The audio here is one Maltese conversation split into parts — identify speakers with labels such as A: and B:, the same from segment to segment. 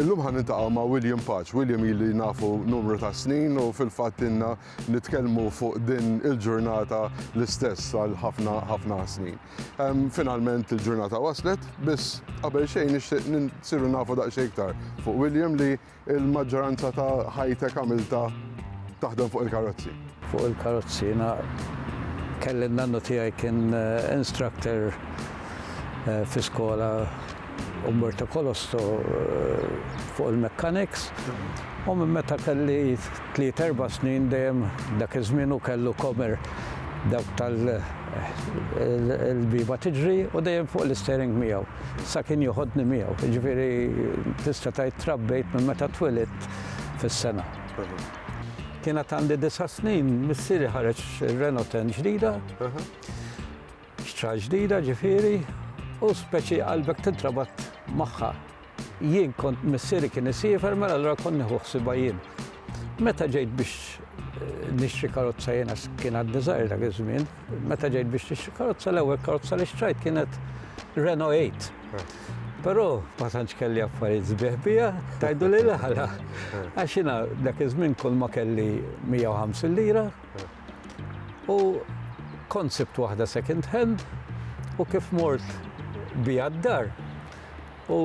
A: Illum ħa niltaqgħu ma' William Paċ. William ili nafu numru ta' snin u fil-fatt inna nitkellmu fuq din il-ġurnata l-istess għal ħafna ħafna snin. Finalment il-ġurnata waslet, biss qabel xejn nixtieq nsiru nafu daqsxejn iktar fuq William li Il-maġġoranza ta' ħajtek għamiltha taħdem fuq il-karozzi? Fuq il-karozzi
B: jiena kelli n-nannu tiegħi kien instructor fi skola Umberto Colosto fuq il-mechanics u minn meta kelli tliet erba' snin dejjem dak iż-żmien hu kellu comer dawk tal il-bieba tiġri u dejjem fuq l-istering miegħu sa kien joħodni miegħu. Jiġifieri tista' tgħid trabbejt minn meta twilidt fis-sena. Kienet għandi disa' snin missieri ħareġ Renault 10 ġdida, xtrah ġdida ġifieri u speċi qalbek tintrabat magħha. Jien kont missieri kien isiefer mela allura kont nieħu ħsibha jien. Meta ġejt biex nixtri karozza jiena kien għadni żgħir dak iż-żmien, meta ġejt biex nixtri karozza l-ewwel karozza li xtrajt kienet Renault 8. Però ma tantx kelli affarijiet sbieħ biha, tajdu li l-ħala. Għax jiena dak iż-żmien kull ma kelli 150 lira u kont sibt waħda second hand u kif mort biha d-dar U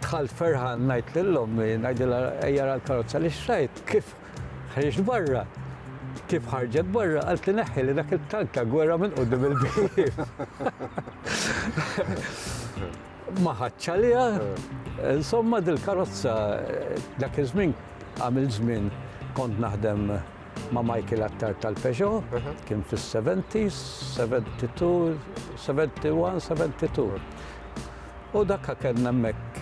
B: dħalt ferħan ngħid lil ommi, ngħidilha ejja ra l-karozza li xtrajt, kif ħriġt barra. Kif ħarġet barra, qalt li neħħi li dak il-tank ta' gwerra minn qudiem il-bieb. Ma ħadx għaliha, insomma dil-karozza dak iż-żmien għamil żmien kont naħdem ma' Michael Attar tal-Peugeot, kien fis-70s, 72, 71, 72. U dakka kellna hemmhekk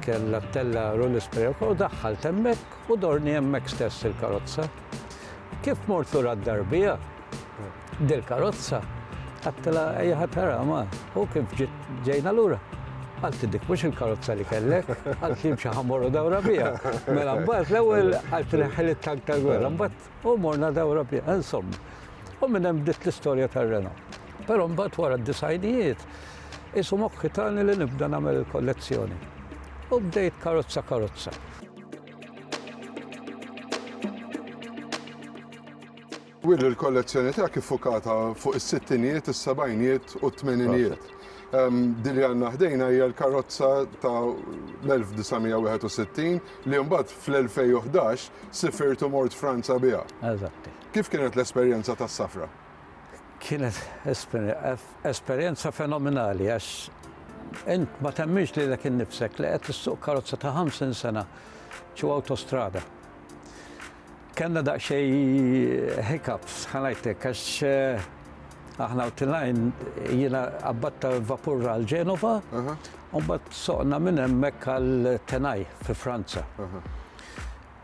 B: kellha ttella' Rulli Sprevka u daħħalt hemmhekk u dorni hemmhekk stess il-karozza. Kif mort lura d-dar biha, dil-karozza, għedtilha ejja ħa tara ma, u kif ġiet ġejna lura, qaltli dik mhux il-karozza li kellek, qaltli imxi ħa mmorru dawra biha. Mela mbagħad l-ewwel qaltli ħiliet tank tal-gwerra, mbagħad U morna dawra bi, insomma. U minn hemm bdiet l-istorja tar-Renault. Però mbagħad wara d-disajnijiet qisu mokħi tani li nibda nagħmel il-kollezzjoni. U bdejt karozza karozza.
A: Willy, il-kollezzjoni tiegħek iffukata fuq is-sittinijiet, is-sebgħinijiet u t-tmeninijiet. Din li għandna ħdejna hija l-karozza ta' l-1961 li mbagħad fl-2011 sifirt u mort Franza biha. Eżatt. Kif
B: kienet l-esperjenza
A: tas-safra? Kienet
B: esperjenza fenomenali għax int ma temmix lilek innifsek li qed issuq karozza ta' 50 sena ċu awtostrada. Kellna daqsxejn hiccups, ħa ngħidlek, għax aħna u tilajn jiena qabbatta vapur għal Ġenova, u mbagħad soqna minn hemmhekk għal Tenaj fi Franza.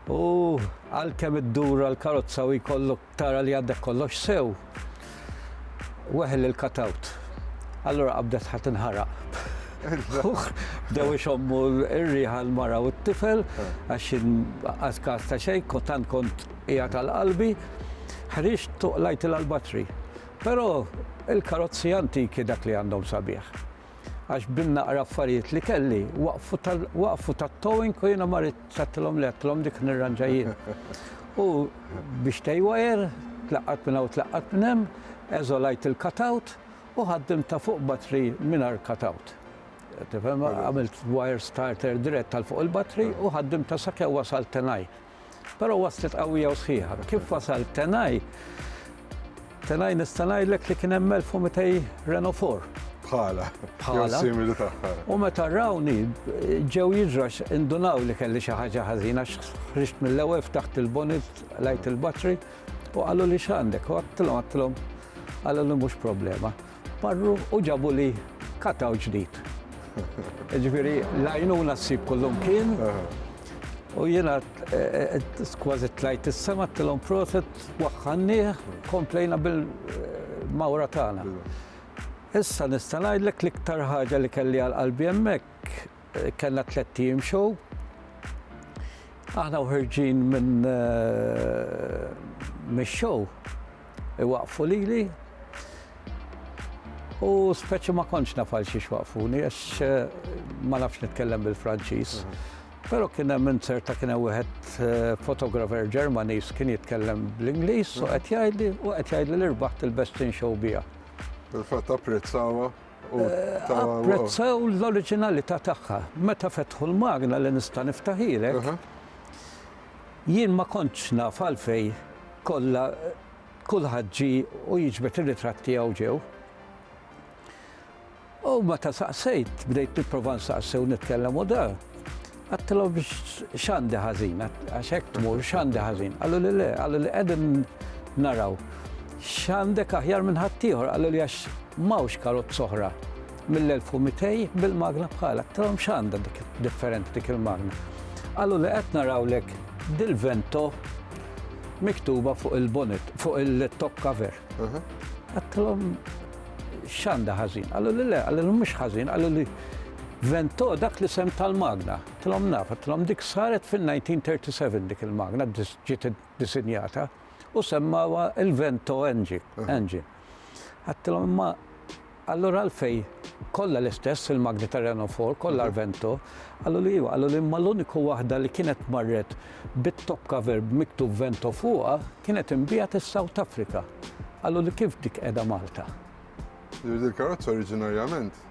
B: U għalkemm iddur għal karozza u jkollok tara li għaddek kollox sew, weħel il-katawt. Allura qabdet ħadd inħaraq. Bdew ixommu r-riħa l-mara u t-tifel, għax għaz kas ta' xej, tant kont hija tal-qalbi, ħriġ tuqlajt l-albatri. Però il-karozzi antiki dak li għandhom sabiħ. għax bin-naqra affarijiet li kelli waqfu tat-towing u jiena ma ridx għattilhom le għattilhom dik nirranġa jien. U biex tejwajer, tlaqqat minn hawn tlaqqat minn hemm, eżolajt il-cutout u ħaddimt ta' fuq batri mingħajr cutout. Tifhem, għamilt wire starter dirett għal fuq il-batri u ħaddimt ta' sakemm wasalt tenaj. Però waslet qawwija u sħiħa. Kif wasal Tenaj? Tenaj nista' ngħidlek li kien hemm 1200 Renault 4. Bħala.
A: Bħala. Simili tagħha.
B: U meta rawni ġew jiġrax indunaw li kelli xi ħaġa ħażina x'ħriġt mill-ewwel ftaħt il-bonnet lajt il-batri u qalu li x'għandek u għattilhom għattilhom qalu li mhux problema. Marru u ġabuli kataw ġdid. Ġifiri, lajnuna s-sib kullum kien. U jena eh, eh, kważi tlajt is-sema tilhom proset waħħannieh komplejna bil-mawra eh, tagħna. Issa nista' ngħidlek l-iktar ħaġa li kelli għal qalbi hemmhekk Kellna tlett ijiem show. Aħna u ħirġin minn mix-show iwaqfu lili u speċi ma kontx naf għal xiex waqfuni għax ma nafx nitkellem bil-Franċiż. Però kien hemm insert ta' kien hemm wieħed fotografer Ġermaniż kien jitkellem bl-Ingliż u qed jgħidli u qed jgħidli li rbaħt il-best in show biha. Fil-fatt
A: apprezzawha. u ta' Apprezzaw
B: l-oriġinalità tagħha. Meta fetħu l-magna li nista' niftaħilek, jien ma kontx naf għalfejn kollha kulħadd ġie u jiġbed ir-ritratt tiegħu ġew. U meta saqsejt, bdejt nipprova nsaqsi u nitkellem u da, Għattilhom x'għandi ħażin, għax hekk tmur x'għandi ħażin. Qalu li le, qalu li qegħdin naraw x'għandek aħjar minn ħaddieħor, qalu li għax mawx karozz oħra mill-1200 bil-magna bħala. Trom xanda dik differenti dik il-magna. Għallu li qed narawlek dil-vento miktuba fuq il-bonnet, fuq il-top cover. Mhm. Għattilom X'għandha ħażin? Qalu li le, qalu li mhux ħażin, qalu li Vento dak li sem tal-magna. Tlom naf, tlom dik saret fil-1937 dik il-magna ġiet disinjata u semmawa il-Vento engine. Għattilom ma allura għalfej kollha l-istess il-magni ta' Renault 4, kollha Vento, għallu li għallu li ma l-uniku waħda li kienet marret bit-top cover miktub Vento fuqa Kienet inbiegħet is-South Africa. Qalu li kif dik qiegħda Malta? Jiġifieri dil-karozza
A: oriġinarjament.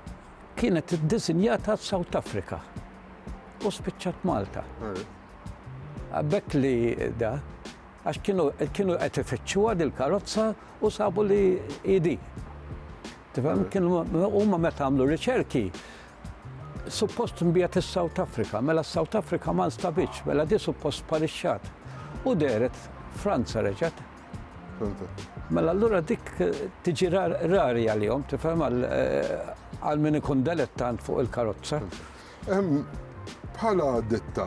A: Kienet
B: iddisinjata s-South Africa u spiċċat Malta. Għarif. B'hekk li da, għax kienu kienu qed ifittxuha dil-karozza u sabu li hi di. Tifhem? Kienu huma meta għamlu riċerki Suppost nbiegħet lis-South Africa, mela s-South Africa ma nstabitx, mela di suppost sparixxat. U dehret Franza reġgħet. Mela allura dik tiġi rari għalihom, tifhem għal min ikun delettant fuq il-karozza. Bħala
A: ditta,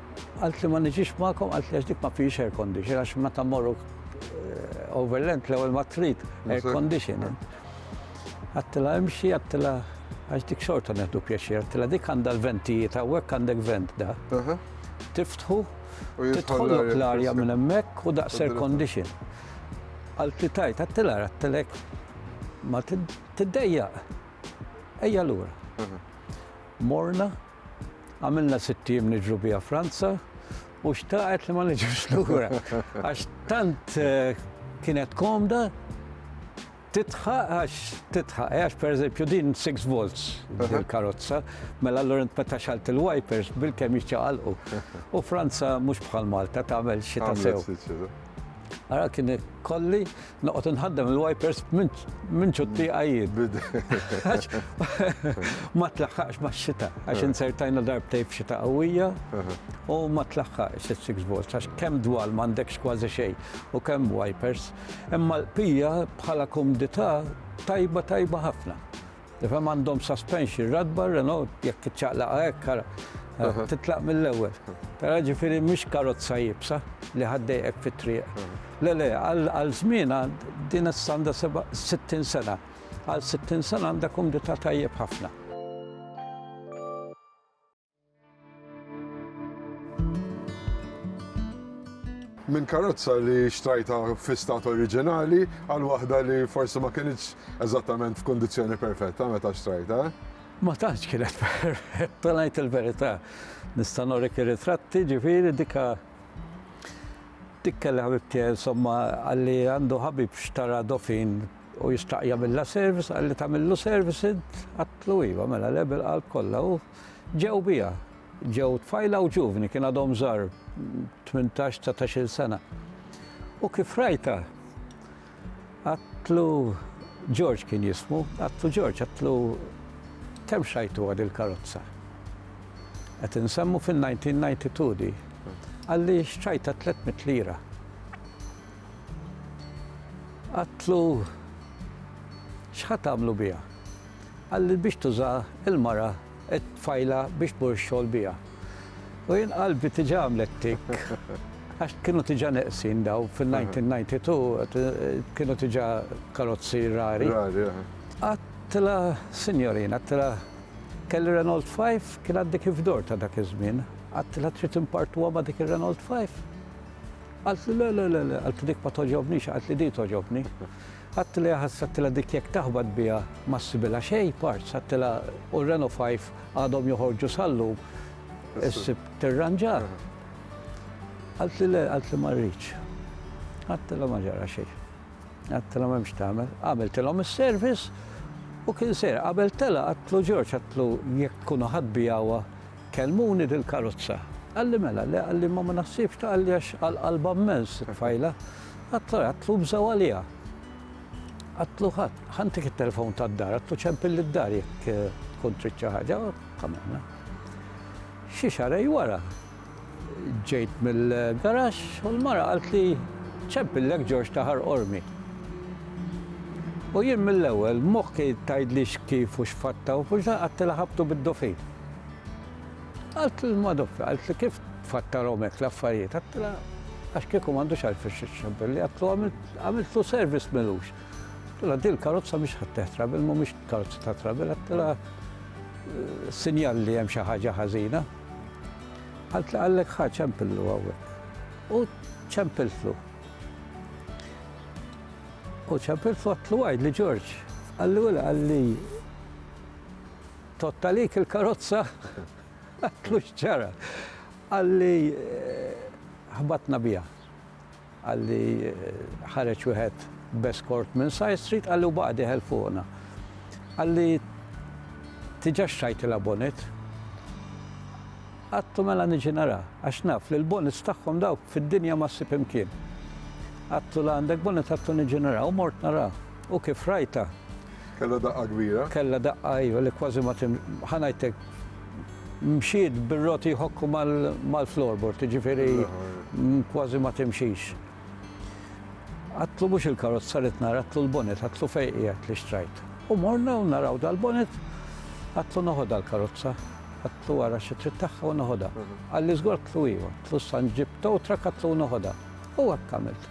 B: Qaltli ma niġix magħkom, qaltli għax dik ma fiex air condition, għax meta morru eh, overland l-ewwel ma trid air condition. Għattila imxi, għattila għax dik xorta neħdu pjaċir, għattila dik għandha l-ventijiet, għawek għandek vent da. Tiftħu, titħollok l-arja minn hemmhekk u daqs air condition. Għaltli tajt, għattila għattilek ma tiddejja. Ejja l-ura. Morna, Għamilna sitt ijiem niġru biha Franza u xtaqet li ma niġux lura. Għax tant eh, kienet komda titħaq għax titħaq, eh, għax per eżempju din 6 volts il-karozza, mela l int meta xalt il-wipers bil-kem jċaqalqu. U Franza mux bħal Malta tagħmel xita sew. Għara kien kolli Noqgħod inħaddem il-wipers minn ċutti għajjid. Ma tlaħħaqx ma' xita, għax eh. insertajna darbtej f'xita qawwija eh. u ma tlaħħaqx il-6 volts, għax kemm dwal m'għandekx kważi xejn u kemm wipers. Imma l-pija bħala kumdità tajba tajba ħafna. Tifhem għandhom suspension, ratba Renault jekk iċċaqlaqha hekk ara titlaq mill-ewwel. Tara ġifieri mhix karozza jibsa li ħaddejqek fit-triq. Le le, għal żmienha din issa għandha 60 sena. Għal 60 sena għandha kumdità tajjeb ħafna.
A: minn karozza li xtrajta fi stat oriġinali għal waħda li forsi ma kienx eżattament f'kundizzjoni perfetta meta xtrajta. Ma tantx
B: kienet perfetta ngħid il-verità. Nista' norek ir-ritratti ġifieri dika dik kellha ħabibti insomma għalli għandu ħabib xtara dofin u jistaqja mill service għalli tagħmillu service għatlu iva mela lebel qalb kollha u Ġew biha. Ġew tfajla u ġuvni, kien għadhom żgħar, tmintax, dsatax-il sena. U kif rajtha, għadtlu, George kien jismu, għadtlu George, għadtlu, kemm xrajtu għad il-karozza? Qed insemmu fin-1992 di. Qalli xtrajtha tliet mitt lira. Għadtlu, x'ħa tagħmlu biha? Qal li biex tuża il-mara qed tfajlha biex tmur ix-xogħol biha. U jien qalbi tiġa għamlet tikk għax kienu tiġa neqsin dawn fil-1992 kienu tiġa karozzi rari.
A: Għadtilha
B: sinjorina, għadtilha kelli Renault 5 kien għaddi kif dor ta' dak iż-żmien. Għadtilha trid impartuha ma' dik ir-Renault 5? Qaltli le le le le, qaltli dik ma togħġobnix, qaltli din togħġobni. Għadtilha ħass għadtilha dik jekk taħbat biha ma ssibilha xejn parts għadtilha u Renault 5 għadhom joħorġu sal-lum issib tirranġa. Qaltli le qaltli ma rridx. Għadtilha ma ġara xejn. Għadtilha m'hemmx tagħmel. Għamiltilhom is-service u kien ser qabel telaq għadtlu Ġorġ għadtlu jekk tkunu ħadd biha huwa Kellmuni dil-karozza. Qalli mela le qalli imma ma naħsibx ta' qalli għax għal qalbha mmens it-tfajla. Għadtlu għadtlu bżgħu għaliha. Għadtlu ħadd ħa ntik it-telefon tad-dar għadtlu ċempilli d-dar jekk tkun trid xi ħaġa u għamilna. Xi xahrej wara ġejt mill-garaxx u l-mara qaltli ċempillek Ġorġ ta' Ħar Qormi. U jien mill-ewwel moħħi tgħidlix kif u x'fatta u fux'dan għadtilha ħabtu bid-dofin. Qaltlu lil Madoffi, qaltli kif tfattarhom hekk l-affarijiet? Għattilha għax kieku m'għandux għalfejn xi xxabbelli, għatlu għamiltlu service milux. Għattilha din karozza mhix ħadd teħ trabil, mhumiex karozza ta' trabil, għattilha eh, sinjal li hemm xi ħaġa ħażina. Qaltli għallek ħa ċempillu hawnhekk. U ċempiltlu. U ċempiltlu għatlu għajd li Ġorġ, għalli għalli Tott għalik il-karozza? Għidtlu x'ġara? Qalli ħbatna biha. Qalli ħareġ wieħed b'eskort minn side street qalli u baqa' dieħel fuqna. Qalli tiġax xajtilha bonnet? Għadtu mela niġi nara, għax naf li l-bonnets tagħhom dawk fid-dinja ma ssib imkien. Għadtu la għandek bonnet għadtu niġi nara u mort nara. U kif rajtha? Kellha daqqa
A: kbira? Kellha daqqa iva
B: li kważi ma tim ħa ngħidlek mxiet bir-roti jħokku mal-floorboard, jiġifieri kważi ma timxix. Għadtlu mhux il-karozza li tnar, għadtlu l-bonet, għadtlu fejn qiegħed li xtrajt. U morna u naraw dal-bonet, għatlu noħodha l-karozza, għatlu għara xi trid tagħha u noħodha. Għalli żgur tlu iva, tlu san ġib towtra katlu noħodha. U għattamilt.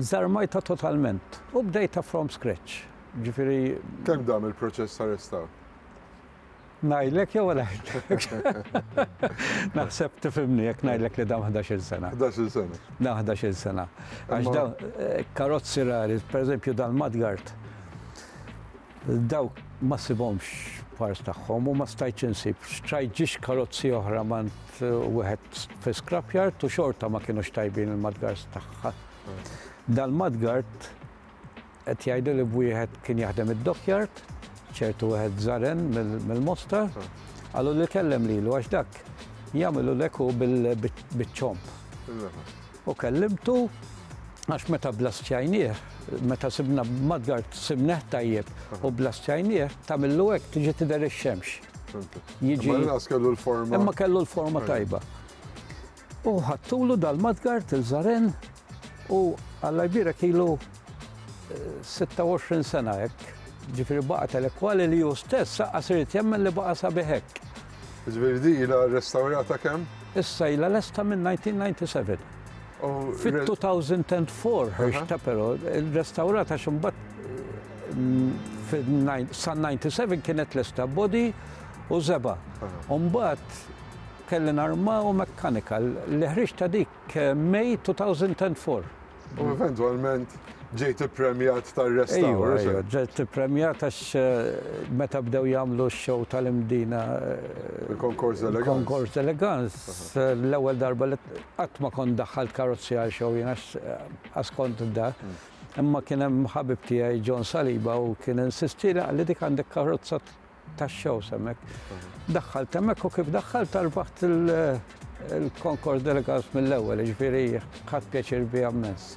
B: Żarmajtha totalment u bdejtha from scratch, ġifieri. Kemm dam il-proċess
A: ta' restawr?
B: Ngħidlek jew ma ngħidlekx? Naħseb tifhimni jekk ngħidlek li dam ħdax-il sena. Ħdax-il sena. Dam
A: ħdax-il sena.
B: Għax dawn eh, karozzi rari, pereżempju dal-mudguard, Dawk ma ssibhomx f'pars tagħhom u ma stajtx insib. Xtrajt ġiex karozzi oħra m'għand wieħed fi scrapyard u xorta ma kinux tajbin il-mudguards tagħha. Dal-mudguard qed jgħidu li b'wieħed kien jaħdem id-dockyard, ċertu wieħed Zaren mill-Mostar, qalu li kellem lilu għax dak jagħmilulek hu biċ-ċomb. U kellimtu, għax meta bblastjajnieh, meta sibna b'madgar simnieh tajjeb u bblastjajnieh, tagħmillu hekk tiġi tidher ix-xemx. Jiġi. Imma
A: l-inqas kellu l-forma. Imma kellu l-forma
B: tajba. U ħadtulu dal-madgar til-Żaren u Alla jbierek ilu 26 sena hekk. Ġifieri baqa' telekwali li hu stess aqqas irid jemmen li baqa' sabiħ hekk. Żvijrdi
A: ilha rrestawrata kemm? Issa ilha lesta min-1997. Fit-2004
B: Hirsch ta' però rrestawrat għax imbagħad sal-97 kienet lesta body u żebgħa. Imbagħad kelli narmaw mechanical. L-ħriġ ta' dik May 2004. U
A: eventwalment ġejt ippremjat tar-restawr. Ejja, ġejt
B: ippremjat għax meta bdew jagħmlu x-show tal-imdina. Il-Konkors
A: Elegance. Il-Konkors Elegance,
B: l-ewwel darba li qatt ma kont daħħalt karozzijar show jien għax askont da. Imma kien hemm ħabib tiegħi John Saliba u kien insistieli qal li dik għandek karozza tax-shows hemmhekk. Daħħalt hemmhekk u kif daħħalt tarbaħt il-Concord Delegates mill-ewwel, ġifieri ħadd pjaċir biha mmens.